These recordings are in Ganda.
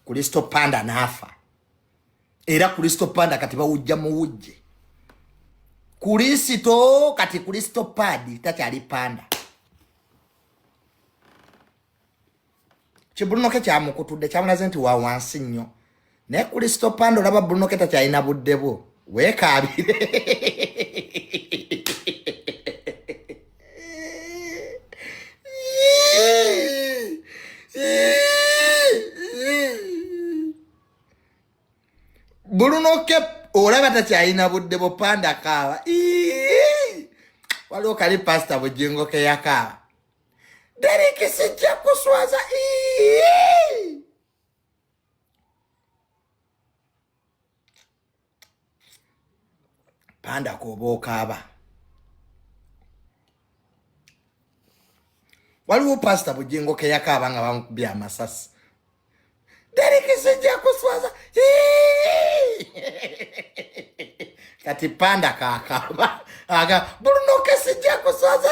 Kristo Panda n'afa era Kristo Panda kati bawujja muwujje Kristo kati Kristo Padi takyali Panda kibulunoke kyamukutudde kyamulaze nti wa wansi nnyo naye Kristo Panda olaba bulunoke takyalina budde bwo weekaabire bulunoke olaba takyalina budde bupanda kaaba waliwo kali pasita bujingo keyakaaba deriki sijja kuswaza panda kooba okaaba waliwo pasita bujingo keyakaaba nga bamukubye amasasi derekisijja kuswaza kati panda kakaba aga buluno kesijja kuswaza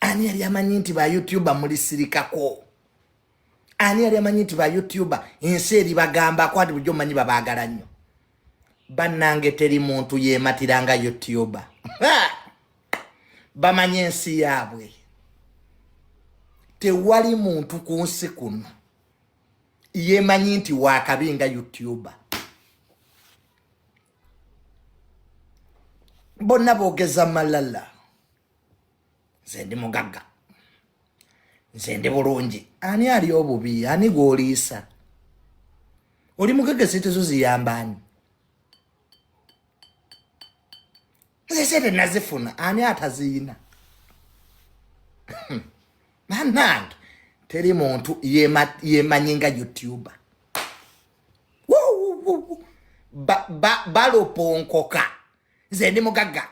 ani yali amanyi nti ba youtuber mulisirikako ani yali amanyi nti ba youtuber ensi eri bagamba kwati bujo manyi babagala nnyo banange teri muntu yematiranga youtuber bamanye ensi yaabwe tewali muntu ku nsi kuno yemanyi nti wakabi nga youtuber bonna boogeza malala nze ndi mugagga nze ndi bulungi ani ali obubi ani gwoliisa oli mugagga sente zo ziyamba ani nze sente nazifuna ani ataziyina banange teri muntu yemanyi nga youtuber baloponkoka nze ndi mugagga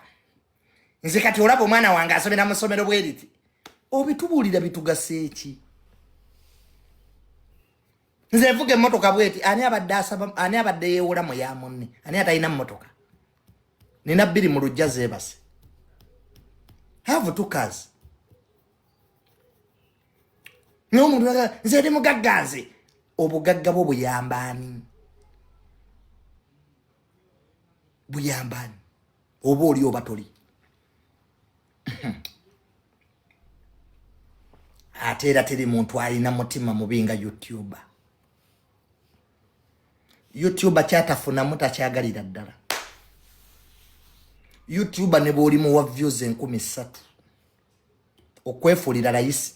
nze kati olaba omwana wange asomera mu ssomero bweriti obitubuulira bitugasa eki nze nvuga emmotoka bweti ani abadde asaba ani abadde yeewola mu ya munne ani atalina mmotoka nina bbiri mu lujja zeebase have two cars naye omuntu aga nze ndi mugagga nze obugagga bwo buyamba ani buyamba ani oba oli oba toli ate era teri muntu alina mutima mubi nga youtuber youtuber kyatafunamu takyagalira ddala youtuber ne bwolimuwa views enkumi ssatu okwefuulira layisi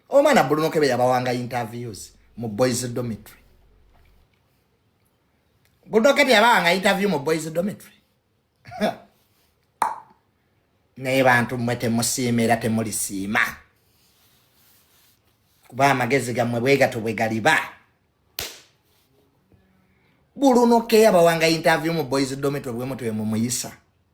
omwana bulunokebe yabawanga interviews mu boys dormitory bulunokebe yabawanga interview mu boys dormitory naye bantu mmwe temusiima era temulisiima kuba amagezi gammwe bwegato bwe galiba bulunokeya bawanga interview mu boys dormitory bwemutwe mumuyisa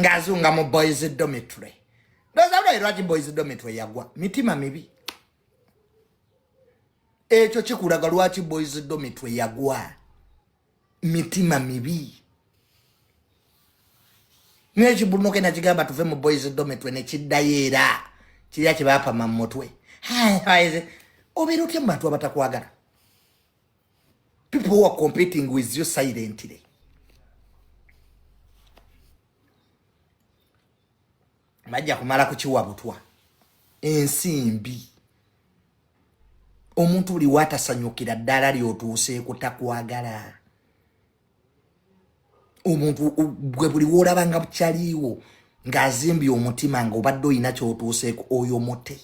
ng'azunga mu boys domitry ndoza lwayi lwaki boys domitry yagwa mitima mibi ekyo kikulaga lwaki boys domitry yagwa mitima mibi nekibulunoke nakigamba tuve mu boys domitry nekiddayo era kirya kyebapama mu mutwe obeera otya mu bantu abatakwagala People who are competing with you silently. Majja kumala kukiwa butwa. Ensi mbi. Omuntu buli watasanyukira ddala lyotuuse kutakwagala. Omuntu gwe buli woolaba nga bukyaliiwo ng'azimbye omutima ng'obadde olina kyotuuseeko oyo mute.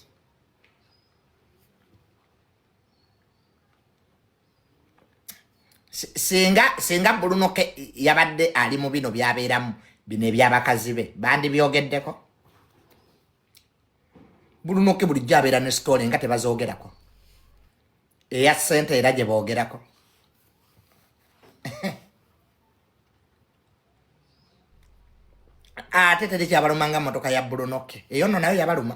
singa singa bulunoke yabadde ali mu bino byabeeramu bino ebyabakazi be bandibyogeddeko bulunoke bulijjo abeera ne sitole nga tebazoogerako eya sente era gye boogerako ate teri kyabaluma nga motoka ya bulunoke eyo no nayo yabaluma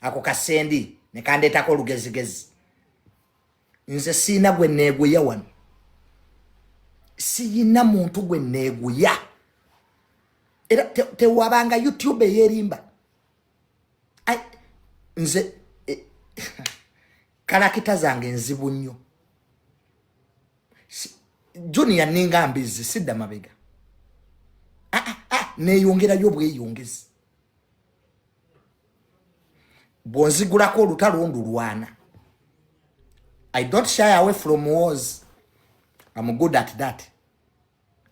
ako kasendi nekandeetako olugezigezi nze siina gwe neeguya wano siyina muntu gwe neeguya era tewabanga te youtube eyerimba nze e, kalakita zange nzibu nnyo junia ninga mbizi sidda mabega ah, ah, ah, neyongerayo obweyongezi bwonzigulako olutalo ndulwana i don't shy away from wars am good at that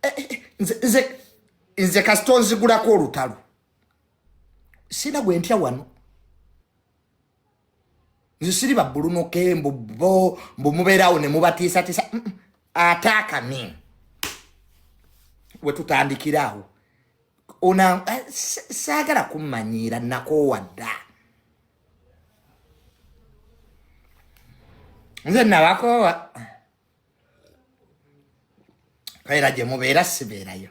eh, eh, eh, nze, nze, nze kasita onzigulako olutalo sina gwentya wano nze siri babbulunoke mbu bo mbu mubeerawo ne mubatiisatiisa ate akani wetutandikiraawo ona eh, saagala kummanyiira nakoowa dda nze nabakoowa era gye mubeera sibeerayo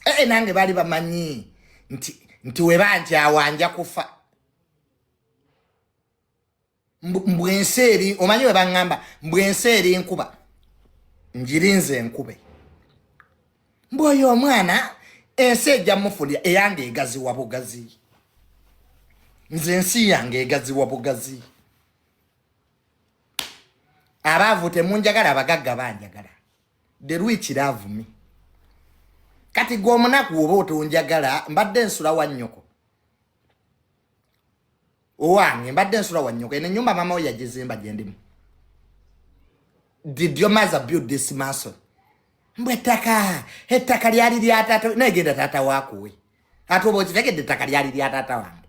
ee eh, eh, nange baali bamanyi nti nti webanjawa nja kufa mbu ensi eri omanyi webaŋŋamba mbu ensi eri nkuba njirinze enkube mbu oyo omwana ensi ejja mufulya eyange egaziwa bugazi nze ensi yange egaziwa bugazi abaavu temunjagala abagagga banjagala the rich love me kati gwe omunaku oba otonjagala mbadde nsula wa nnyoko owange mbadde nsula wa nnyoko eno enyumba mama we yagizimba gyendimu did your mother build this mason mbu ettaka ettaka lyali lya taata naye genda taata wakuwe ate oba okitegedde ettaka lyali lya taata wange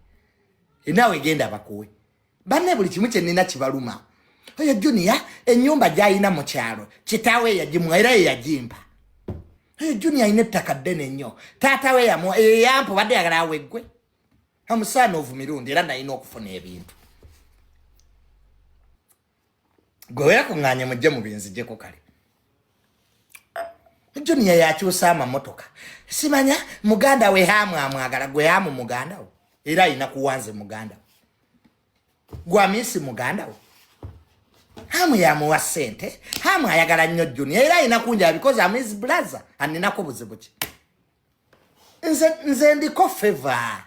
nawe genda bakuwe banne buli kimu kyenina kibaluma oyo junior enyumba gyalina mu kyalo kitaawe eyagimuwa era yeyagimpa oyo junior alina ettaka ddene nnyo taata we yamuwa eyo yampa obadde yagala aweggwe amusaana ovu mirundi era nalina okufuna ebintu gwe weyakuŋŋaanye mujje mu binzijeko kale juniya yakyusa amamotoka simanya muganda we hamu amwagala gwe hamu muganda wo era alina kuwanze muganda wo gwamiisi muganda wo hamu yamuwa sente hamu ayagala nnyo juniya era alina kunjaa because am his blaza aninako buzibu ki nze nze ndiko favor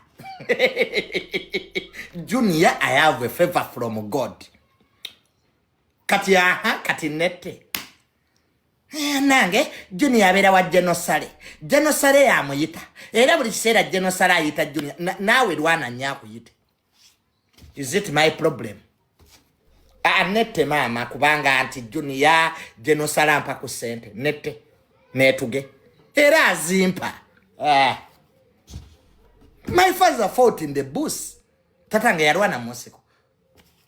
junior i have a favor from god kati aha kati nette eh, nange junior abeera wa genosale genosale yamuyita era buli kiseera genosale ayita junior naawe lwana nyo akuyite is it my problem anette maama kubanga nti juniya genosala mpa ku sente nette netuge era azimpa ah. my father fought in the bus tata nga yalwana munsiko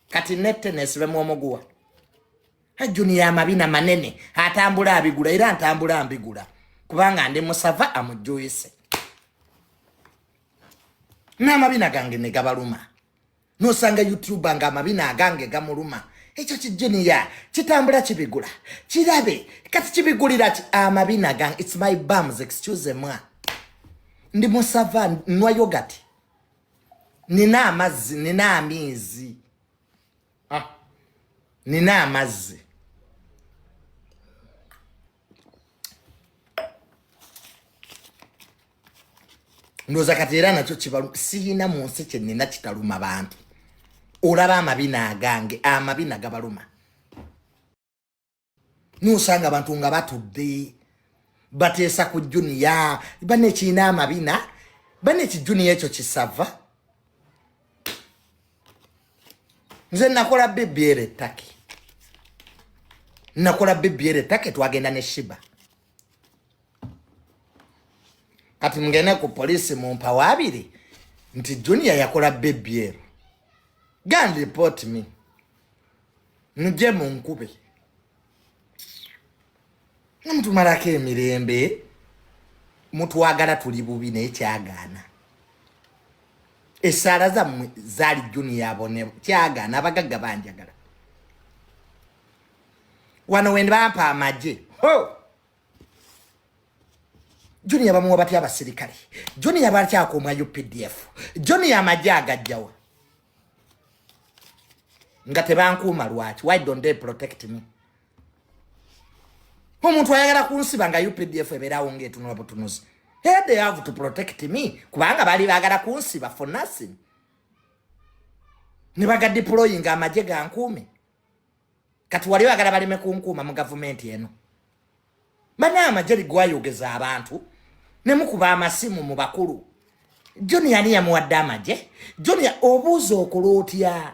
kati nette nesibemu omuguwa juniya amabina manene atambula abigula era ntambula mbigula kubanga ndi musava amujuyise n'amabina gange ne gabaluma nosanga youtuba nga amabina agange gamuluma ekyo kijiniya kitambula kibigula kirabe kati kibigulira ki amabina gange its my bums excuse mwa ndi musava nwa yogati nina amazzi nina amiizi ah. nina amazzi ndoza kati era nakyo kibalu siyina mu nsi kyenina kitaluma bantu olaba amabina agange amabina gabaluma nosanga abantu nga batudde bateesa ku juniya bane kirina amabina bane ekijuniya ekyo kisava nze nakola bbr ettake nakola bbr ettake twagenda ne shiba kati mugende ku poliisi mumpawo abiri nti junior yakola bbr gan report me muje munkube namutumalako emirembe mutwagala tuli bubi naye kyagaana esaala zammwe zaali juniya abone kyagaana abagagga banjagala wano wendibampa amagye ho juniya bamuwa batya abasirikale juniya bakyakuumwa updf juniya amagye agajjawa nga tebankuuma lwaki why don't they protect me omuntu ayagala kunsiba nga updf ebeerawo ngaetunula butunuzi hey, they have to protect me kubanga bali bagala kunsiba for nothing ne bagadiployinga amagye gankuume kati wali oyagala baleme kunkuuma mu gavumenti eno bana amagye ligwayogeza abantu ne mukuba amasimu mu bakulu joni yani yamuwadde amagye joni obuuza okola otya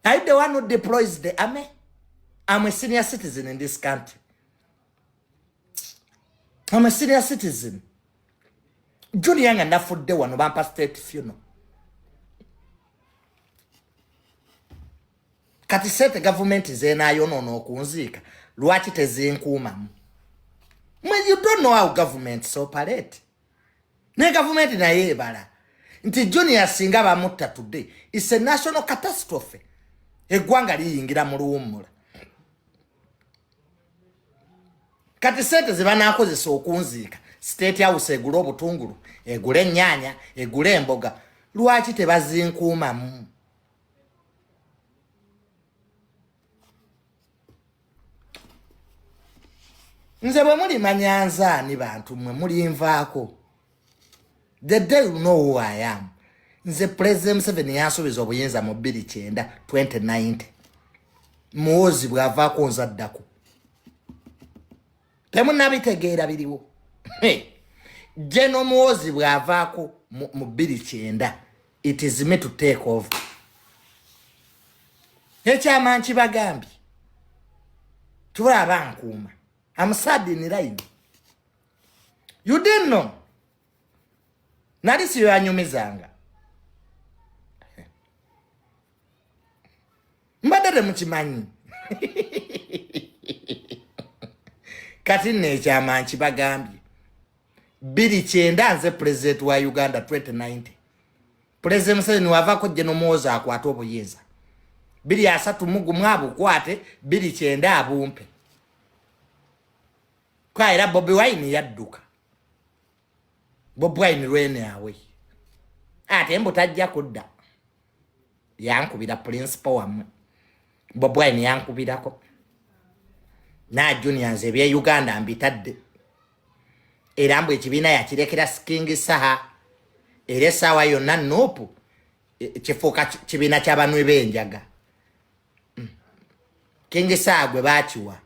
are the one who deploys the army am a senior citizen in this country am a senior citizen junior nga nafudde wano bampa state funo kati sente gavumenti zenayonoona okunziika lwaki tezinkuumamu mwen you don't know how government so palete ne gavumenti naye ebala nti junior singa bamutta today its a national catastrophe eggwanga liyingira mu luwummula kati sente zebanakozesa okunziika state house egule obutungulu egule ennyanya egule emboga lwaki tebazinkuumamu nze bwe mulimanya nzaani bantu mmwe mulinvaako the day you know who i am nze president museveni yansuubiza obuyinza mu 290 2090 muwozi bwavaako nza ddaku temunabitegeera biriwo jeno muwozi bwavaako mu 290 it is me to take over ekyama nkibagambye tubala bankuuma I'm sad in line. You didn't know. Nali siyo yanyumizanga. Mbadde temukimanyi. Kati nno ekyama nkibagambye. Biri kyenda nze president wa Uganda 2090. President Museveni wavako jeno muwoza akwata obuyinza. Biri asatu mugu mwabu kwate, biri kyenda abumpe. kwa era Bobi Wine yadduka Bobi Wine lwene awe ate mbu tajja kudda yankubira principal wamwe Bobi Wine yankubirako na juniors ebye Uganda mbitadde era mbu ekibiina yakirekera King Saha era essaawa yonna nuupu e, kifuuka kibiina ky'abanwe b'enjaga mm. kengesa gwe bakiwa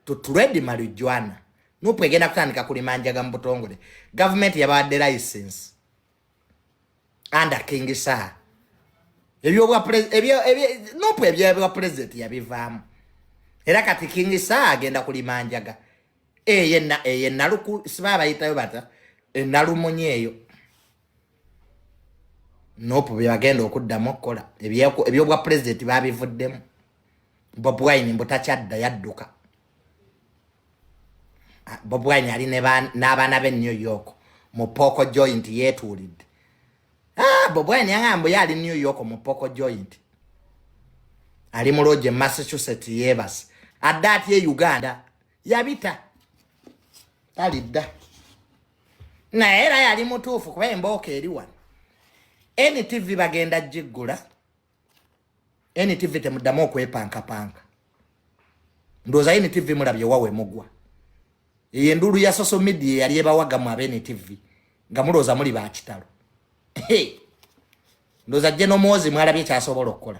tutuledi malijwana nupu egenda kutandika kulima njaga mu butongole gavumenti yabawadde license anda kengesa nupu ebyobwa pulezidenti yabivaamu era kati kengesa agenda kulima njaga eyenaluku siba abayitayo bata enalumunye eyo nope byebagenda okuddamu okukola ebyobwa pulezidenti babivuddemu bob wine mbu takyadda yadduka ah, bob wine ali n'abaana be new york mu pooko joint yeetuulidde ah, bob wine yaŋambu ye ali new york mu pooko joint ali mu loogi e massachusetts yeebase adde atya e uganda yabita talidda naye era yali mutuufu kuba embooka eri wano ntv bagenda giggula ntv temuddamu okwepankapanka ndowooza ntv mulabye wawe mugwa eyo enduulu ya social media eyali ebawagamu ab ntv nga mulowooza muli bakitalo ndowooza jje nomwozi mwalabye kyasobola okukola